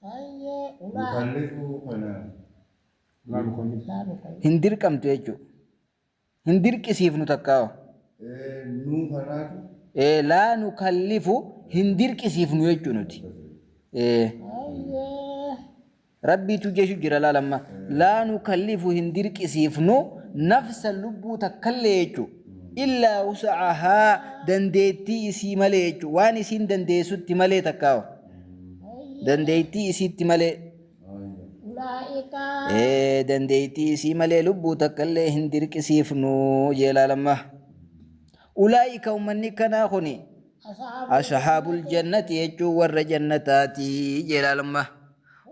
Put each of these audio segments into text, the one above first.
Hayyee ulaa. Mukallifuu kana. Ulaa boqonnif. Ulaa boqonnif. Hin dirqamtu jechuudha. Hin dirqisiifnu takkaawaa. Ee nuu kanaatu. Ee laa nukallifu hin dirqisiifnu jechuu nuti. Ee. Hayyee. Rabbiitu jeshu jira laal amma. Laa nukallifu hin dirqisiifnu nafsa lubbuu takkallee jechu. Illaa wusa'ahaa dandeettii isii malee jechu. Waan isiin dandeessutti malee takkaawa. dandeettii isiitti malee ee dandeettii isii malee lubbuu takka illee hin dirqisiifnu jee laalamma ulaa'ika ummanni kanaa kuni ashaabul jannati jechuun warra jannataati jee laalamma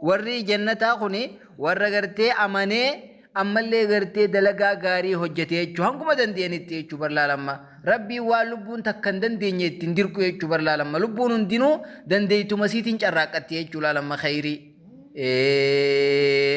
Warri jannataa kun warra gartee amanee ammallee gartee dalagaa gaarii hojjete jechuu hanguma danda'anitti jechuu bar laalamma rabbiin waan lubbuun takka hin dandeenye ittiin dirqu jechuu bar laalamma lubbuun hundinuu dandeeytuma siitiin carraaqqatti jechuu laalamma khayrii ee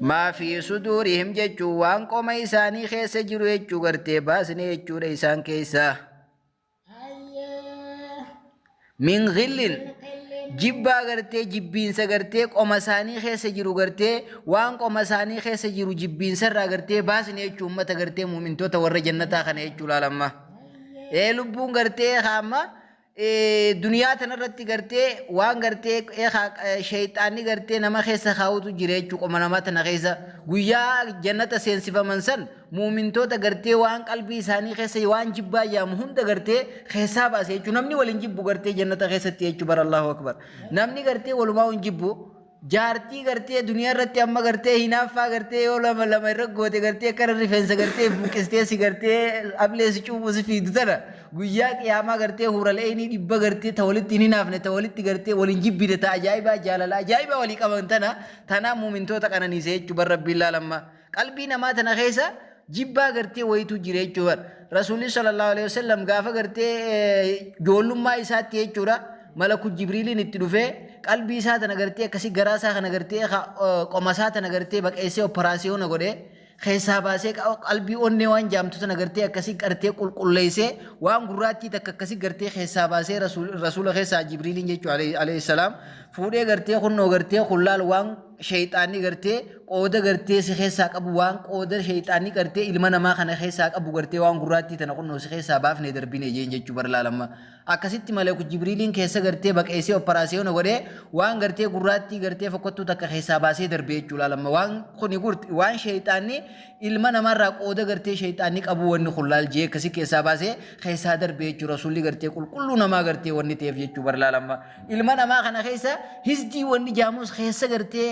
maa fi suduurihim jechuun waan qoma isaanii keessa jiru jechuu gartee baasne jechuudha isaan keessa min ghillin jibbaa gartee jibbiinsa gartee qoma isaanii keessa jiru gartee waan qoma isaanii keessa jiru jibbiinsa irraa gartee baasne jechuu ummata gartee muumintoota warra jannataa kana jechuu laalamma ee lubbuun gartee kaamma duniyaa tana irratti gartee waan gartee shayxaanni gartee nama keessa kaa'utu jira jechuu qoma namaa tana keessa guyyaa jannata seensifaman san muumintoota gartee waan qalbii isaanii keessa waan jibbaa jaamu hunda gartee keessaa baase jechuu namni waliin jibbu gartee jannata keessatti jechuu bara Allahu akbar namni gartee walumaa hin jibbu Jaartii gartee duniyaa irratti amma gartee hinaaffaa gartee yoo lama lama irra goote gartee akkana rifeensa gartee buqqistee si gartee ablee si cuubu si fiidu tana guyyaa qiyaamaa gartee huuralee inni dhibba gartee ta walitti hin hinaafne ta walitti gartee waliin jibbine ta ajaa'ibaa jaalala ajaa'ibaa walii qaban tana tanaa muumintoota qananiise jechuu bar rabbiin laalammaa. Qalbii namaa tana keessa jibbaa gartee wayitu jira jechuudha bar. Rasuulli sallallahu alaihi wasallam gaafa gartee joollummaa isaatti jechuudha malaku jibriiliin itti dhufee qalbii isaa tana gartee akkasii garaa isaa kana gartee qoma isaa tana gartee baqeessee operaasiyoona godhee keessaa baasee qalbii onnee waan jaamtu tana gartee akkasii gartee qulqulleessee waan gurraattii takka akkasii gartee keessaa baasee rasuula keessaa jibriiliin jechuudha alayhi salaam fuudhee gartee kunnoo gartee kullaal waan Sheyxaanni gartee qooda gartee si keessaa qabu waan qooda sheyxaanni gartee ilma namaa kana keessaa qabu gartee waan gurraattii tana kunnoo si keessaa baafne darbine jeen jechuu bar laalamma. Akkasitti maleeku jibriiliin keessa gartee baqeessee operaasiyoona godhee waan gartee gurraattii gartee fokkottuu takka keessaa baasee darbee jechuu laalamma. Waan kuni gurti waan sheyxaanni Ilma namaarraa qooda gartee sheyxaanni qabuu wanni kun laal jee akkasi keessaa baasee keessaa darbee jechuu rasuulli gartee qulqulluu namaa gartee wanni ta'eef jechuu bar laal amma ilma namaa kana keessa hisdii wanni jaamus keessa gartee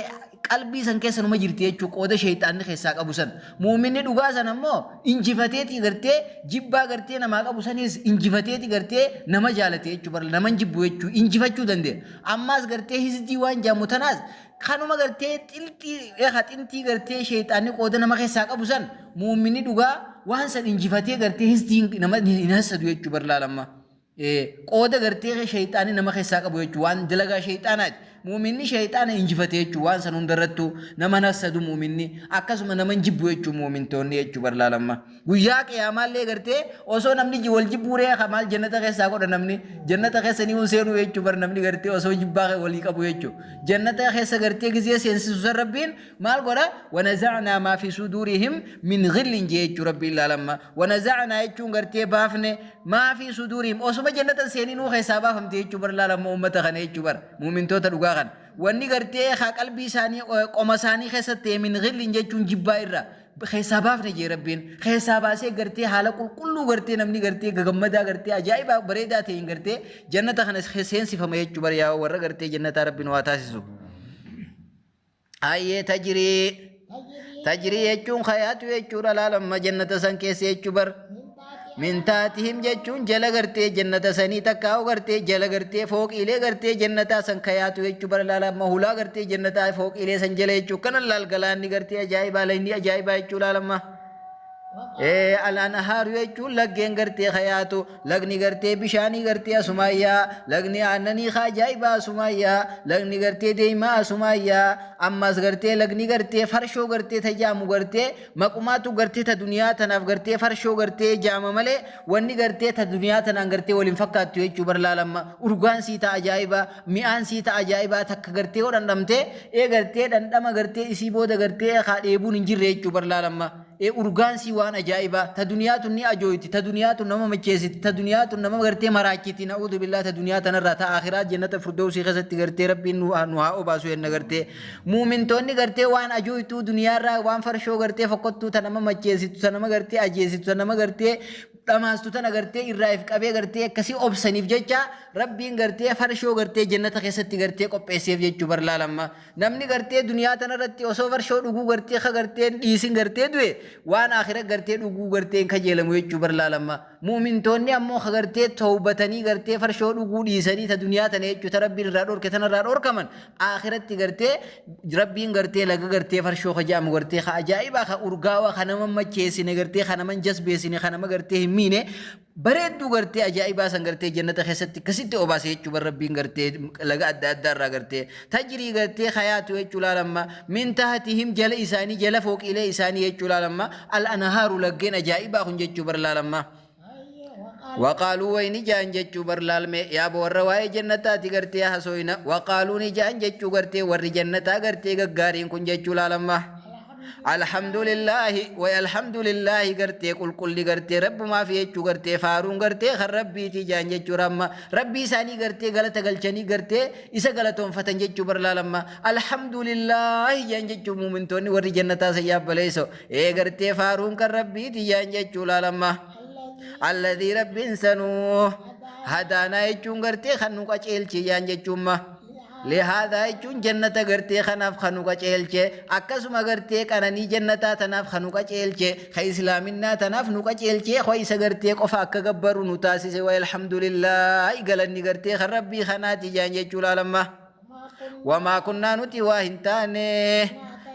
qalbii san keessa numa jirti jechuu qooda sheyxaanni keessaa qabu san muuminni dhugaa san ammoo injifateeti gartee jibbaa gartee namaa qabu sanis injifateeti gartee nama jaalate jechuu bar naman jibbu jechuu injifachuu danda'e ammaas gartee hisdii waan jaamu tanaas Kanuma gartee xiltii eha xintii gartee sheyxaanni qooda nama keessaa qabu san mu'minni dhugaa waan san injifatee gartee hisdiin nama hin hassadu jechuu bar laalamma. Eh, qooda gartee sheyxaanni nama keessaa qabu jechuu waan dalagaa sheyxaanaati. Mu'minni sheyxaana injifate jechuu waan san hundarrattuu nama hin hassadu mu'minni akkasuma nama hin jibbu jechuu mu'mintoonni jechuu bar laalamma. Guyyaa qiyaamaallee gartee osoo namni ji- wal jibbuu ree ka maal jannata keessaa godha namni jannata keessa ni hin seenuu jechuu bar namni gartee osoo jibbaa kee walii qabu jechuu jannata keessa gartee gizee seensisu san rabbiin maal godha wanazacnaa maa fi suduurihim min gillin jee jechuu rabbiin laalamma wanazacnaa jechuun gartee baafne maa fi suduurihim osuma jannata hin seeninuu keessaa baafamte jechuu bar laalamma ummata kana jechuu bar muumintoota dhugaa kana wanni gartee haa qalbii isaanii eh, qoma isaanii keessatti ta'e min gillin jechuun jibbaa irra keessaa baafne jee rabbiin keessaa baasee gartee haala qulqulluu gartee namni gartee gagammadaa gartee ajaa'ibaa bareedaa ta'een gartee jannata kana seensifama jechuu bara yaa warra gartee jannataa rabbiin waa taasisu. Ayyee tajrii tajrii jechuun kayaatu jechuudha laalamma jannata san keessa jechuu bara. min taatihim jechuun jala gartee jannata sanii takkaa'u gartee jala gartee fooqiilee gartee jannataa san kayaatu jechuu bara laala amma hulaa gartee jannataa fooqiilee san jala jechuu kana laal galaanni gartee ajaa'ibaa laynii ajaa'ibaa jechuu laala amma alaan haaru jechuun laggeen gartee kayaatu lagni gartee bishaanii gartee asumaayyaa lagni aannanii ka ajaa'ibaa asumaayyaa lagni gartee deemaa asumaayyaa ammas gartee lagni gartee farshoo gartee tajaamu gartee Maqumaatu gartee ta duniyaa tanaaf gartee farshoo gartee jaama malee wanni gartee ta duniyaa tanaan gartee wal hin fakkaattu jechuu bar laal amma urgaan sii ta ajaa'ibaa mi'aan sii ta ajaa'ibaa takka gartee yoo dhandhamtee ee gartee dhandhama gartee isii booda gartee kaa dheebuun hin jirre jechuu bar laal amma ee urgaan sii waan ajaa'ibaa ta duniyaa tun ni ajooyti ta duniyaa tun nama macheessiti ta duniyaa tun nama gartee maraachiti na'uudu billaa ta duniyaa tanarraa ta akhiraa jennata furdoosii keessatti gartee rabbiin nu haa obaasu jenna gartee Muumintoonni gartee waan ajooytuu duniyaarraa waan farshoo gartee fokkottuu ta nama macheessitu ta nama gartee ajeessitu ta nama gartee dhamaastu tana gartee irraa if qabee gartee akkasii obsaniif jecha rabbiin gartee farshoo gartee jannata keessatti gartee qopheesseef jechuu bar laalamma namni gartee duniyaa tanarratti osoo farshoo dhuguu gartee ka gartee hin dhiisin gartee du'e waan akira gartee dhuguu gartee hin kajeelamu jechuu bar laalamma muumintoonni ammoo ka gartee towbatanii gartee farshoo dhuguu dhiisanii ta duniyaa tana jechuu ta rabbiin irraa dhorke tanarraa dhorkaman Aakhiratti gartee rabbiin gartee laga gartee farshoo ka jedhamu gartee ka ajaa'ibaa ka urgaawaa ka nama macheessine gartee ka nama hin jasbeessine ka nama gartee hin miine bareedduu gartee ajaa'ibaa san gartee jannata keessatti akkasitti obaase jechuu bar rabbiin gartee laga adda addaa irraa gartee tajrii gartee hayaatu jechuu laalamma min tahatihim jala isaanii jala fooqiilee isaanii jechuu laalamma al anahaaru laggeen ajaa'ibaa kun jechuu bar laalamma. waqaaluu wayni jaan jechuu bar laalmee yaaba warra waa'ee jannataati gartee hasooyna waqaaluu ni jaan jechuu gartee warri jannataa gartee gaggaariin kun jechuu laalamma alhamdulillaahi way alhamdulillaahi gartee qulqulli gartee rabbumaaf jechuu gartee faaruun gartee kan rabbiitii jaan jechuu ramma rabbii isaanii gartee galata galchanii gartee isa galatoonfatan jechuu bar laalamma alhamdulillaahi jaan jechuu muumintoonni warri jannataa sayyaaf baleeysoo Ee gartee faaruun kan rabbii tiyyaan jechuu laalamma. Alladii rabbiin sanuu hadaanaa jechuun gartee kan nu qaceelchiyyaan jechuumma. Lihaadaa jechuun jannata gartee kanaaf kan nu qaceelche akkasuma gartee qananii jannataa tanaaf kan nu qaceelche kan islaaminaa tanaaf nu qaceelchee koo isa gartee qofa akka gabbaru nu taasise wa alhamdulillah galanni gartee kan rabbii kanaati jaan jechuu laalamma. wamaa kunnaa nuti waa hin taane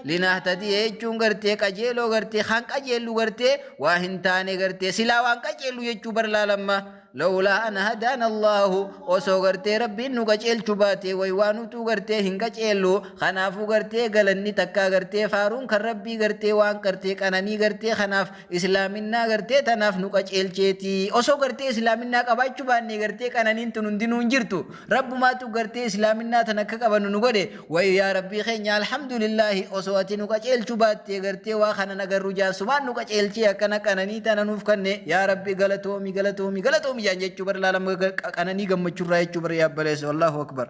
linahtadii jechuun gartee qajeeloo gartee kan qajeellu gartee waa hin taane gartee silaa waan qajeellu jechuu barlaalamma lawlaa an hadaan allaahu osoo gartee rabbiin nu qajeelchu baate way waa nutuu gartee hin qajeellu kanaafuu gartee galanni takkaa gartee faaruun kan rabbii gartee waan gartee qananii gartee kanaaf Islaaminnaa gartee tanaaf nu qaceelcheeti. Osoo gartee Islaaminnaa qabaachuu baannee gartee qananiin tun hundinuu hin jirtu. Rabbumaatu gartee Islaaminnaa tana akka qabannu nu godhe. Wayii yaa Rabbii keenya alhamdulillaahi osoo ati nu qaceelchuu baattee gartee waa kanan agarru jaarsumaan nu qaceelchee akkana qananii tana nuuf kanne yaa Rabbi galatoomi galatoomi galatoomi jaan jechuu bar laalam qananii gammachurraa jechuu bar yaa baleessa Allahu akbar.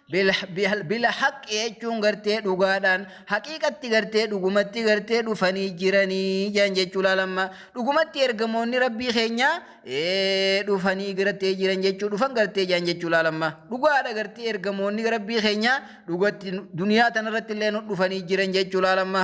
Bilhaqq jechuun gartee dhugaadhaan haqiiqatti gartee dhugumatti gartee dhufanii jiranii jedhan jechuu laalamma dhugumatti ergamoonni rabbii keenyaa dhufanii gartee jiran jechuu dhufan gartee jedhan jechuu laalamma dhugaadha gartee ergamoonni rabbii keenyaa dhugatti duniyaa tanarratti illee dhufanii jiran jechuu laalamma.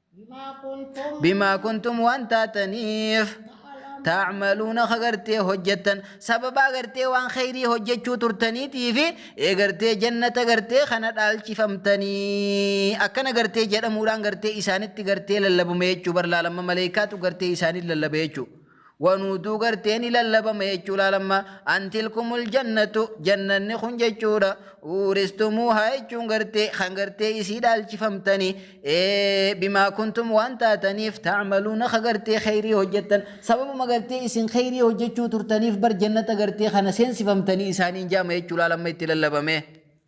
bimaa kuntum waan taataniif taacmaluuna ka gartee hojjettan sababaa gartee waan kheyrii hojjechuu turtaniitii fi ee gartee jannata gartee kana dhaalchifamtanii akkana gartee jedhamuudhaan gartee isaanitti gartee lallabume jechuu barlaalamma maleeykaatu gartee isaaniin lallabe jechuu Wan utuu gartee ni lallabama jechuu laal amma an tilkumul jannatu jannanni kun jechuudha uuristumuuhaa jechuun gartee kan gartee isii dhaalchifamtani bimaa kuntum waan taataniif taamaluuna ka gartee kheyrii hojjettan sababuma gartee isin kheyrii hojjechuu turtaniif bar jannata gartee kana seensifamtanii isaaniin jaama jechuu laal amma itti lallabamee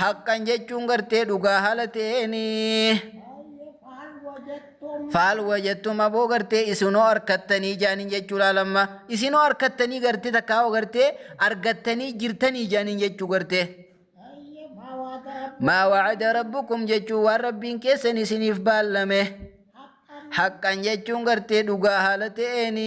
haqqan jechuun gartee dhugaa haala ta'eeni faal wajattum aboo gartee isinoo arkattanii jaaniin jechuu laalamma isinoo arkattanii gartee takkaa hoo gartee argattanii jirtanii jaaniin jechuu gartee maa wacada rabbukum jechuu waan rabbiin keessan isiniif baallame haqqan jechuun gartee dhugaa haala ta'eeni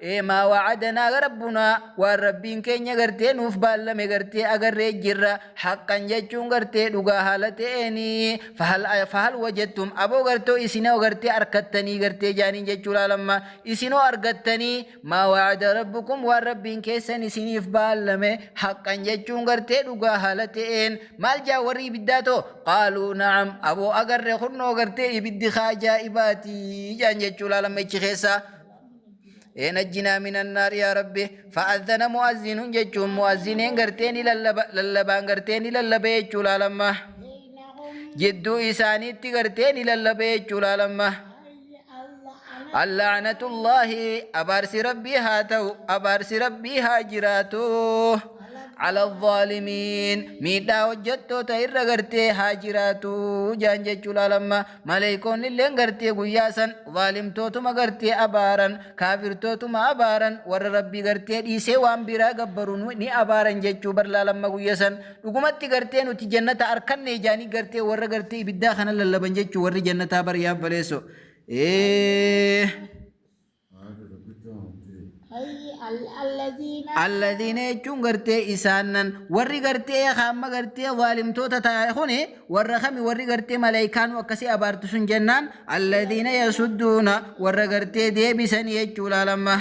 ee maa wacadanaa rabbunaa waan rabbiin keenya gartee nuuf baallame gartee agarree jirra haqqan jechuun gartee dhugaa haala ta'eeni fahal fahal wajattum aboo gartoo isinoo gartee arkattanii gartee jaaniin jechuu laalamma isinoo argattanii maa wacada rabbukum waan rabbiin keessan isiniif baallame haqqan jechuun gartee dhugaa haala ta'een maal jaa warri ibiddaa too qaaluu na'am aboo agarre kunnoo gartee ibiddi kaa ajaa'ibaatii jaan jechuu laalamma ichi keessaa ee najjinaa minan naar yaa rabbi fa'azzana mu'azzinuun jechuun mu'azziniin gartee ni lallaba lallabaan gartee ni lallaba jechuu laalamma jidduu isaaniitti gartee ni lallaba jechuu laalamma allaanatullaahi abaarsi rabbii haa ta'u abaarsi rabbii haa jiraatu ala zaalimiin miidhaa hojjettoota irra gartee haa jiraatu jaan jechuu laalamma Maleeykoonnilleen gartee guyyaa san zaalimtootuma gartee abaaran, kaafirtootuma abaaran, warra Rabbii gartee dhiisee waan biraa gabbaru nu- ni abaaran jechuu bar laalamma guyya san. Dhugumatti gartee nuti jannata arkanne jaanii gartee warra gartee ibiddaa kana lallaban jechuu warri jannataa bar yaa baleesso. Ee. Alladiina jechuun gartee isaannan warri gartee hamma gartee waalimtoota taa'e kuni warra kami warri gartee malaayikaan akkasii abaartu sun jennaan alladiina yasudduuna warra gartee deebisan jechuu laalamma.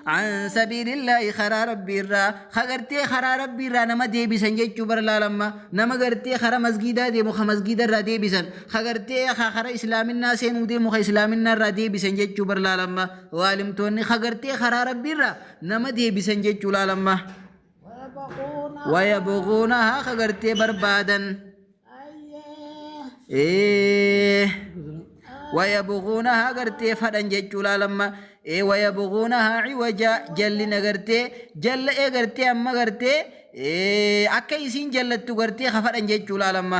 An sabiilillaahi karaa rabbiirraa ka gartee karaa rabbiirraa nama deebisan jechuu bar laalamma nama gartee karaa masgiidaa deemu ka masgiidarraa deebisan ka gartee ka karaa islaaminaa seenuu deemu ka islaaminaa irraa deebisan jechuu bar laalamma waalimtoonni ka gartee karaa rabbiirraa nama deebisan jechuu laalamma waya boqoona haa ka gartee barbaadan waya boqoona haa gartee fadhan jechuu laalamma waya boqoona haa ciwaja jallina gartee jalla ee gartee amma gartee akka isiin jallattu gartee ka fadhan jechuu laalamma.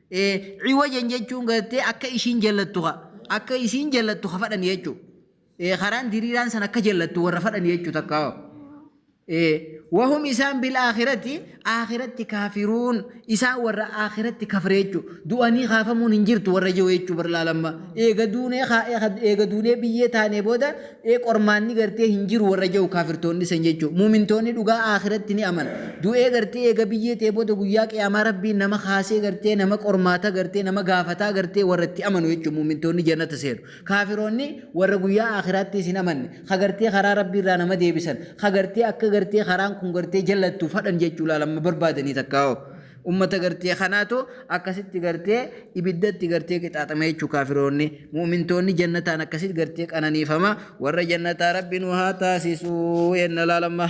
Ee ciwajan jechuun gartee akka ishiin jallattu ka akka isiin jallattu ka fadhan jechu. Ee karaan diriiraan san akka jallattu warra fadhan jechu takka. Ee wahum isaan bil akhirati akhiratti kaafiruun isaan warra akhiratti kafre jechu. Du'anii kaafamuun hin jirtu warra jiru jechu barlaalamma. Eega duunee eega duunee biyyee taanee booda ee qormaanni gartee hin jiru warra ja'u kaafirtoonni san jechuu muumintoonni dhugaa aakhiratti ni amana du'ee gartee eega biyyee ta'e booda guyyaa qiyaamaa rabbiin nama kaasee gartee nama qormaata gartee nama gaafataa gartee warra itti amanu jechuu muumintoonni jannata seenu kaafiroonni warra guyyaa aakhiraattis hin amanne ka gartee karaa rabbiirraa nama deebisan ka gartee akka gartee karaan kun gartee jallattu fadhan jechuu laalamma barbaadanii takkaa'oo Ummata gartee kanaatu akkasitti gartee ibiddatti gartee qixaaxame jechuu kaafiroonni mu'mintoonni jannataan akkasitti gartee qananiifama warra jannataa rabbi nu haa taasisuu yenna laalamma.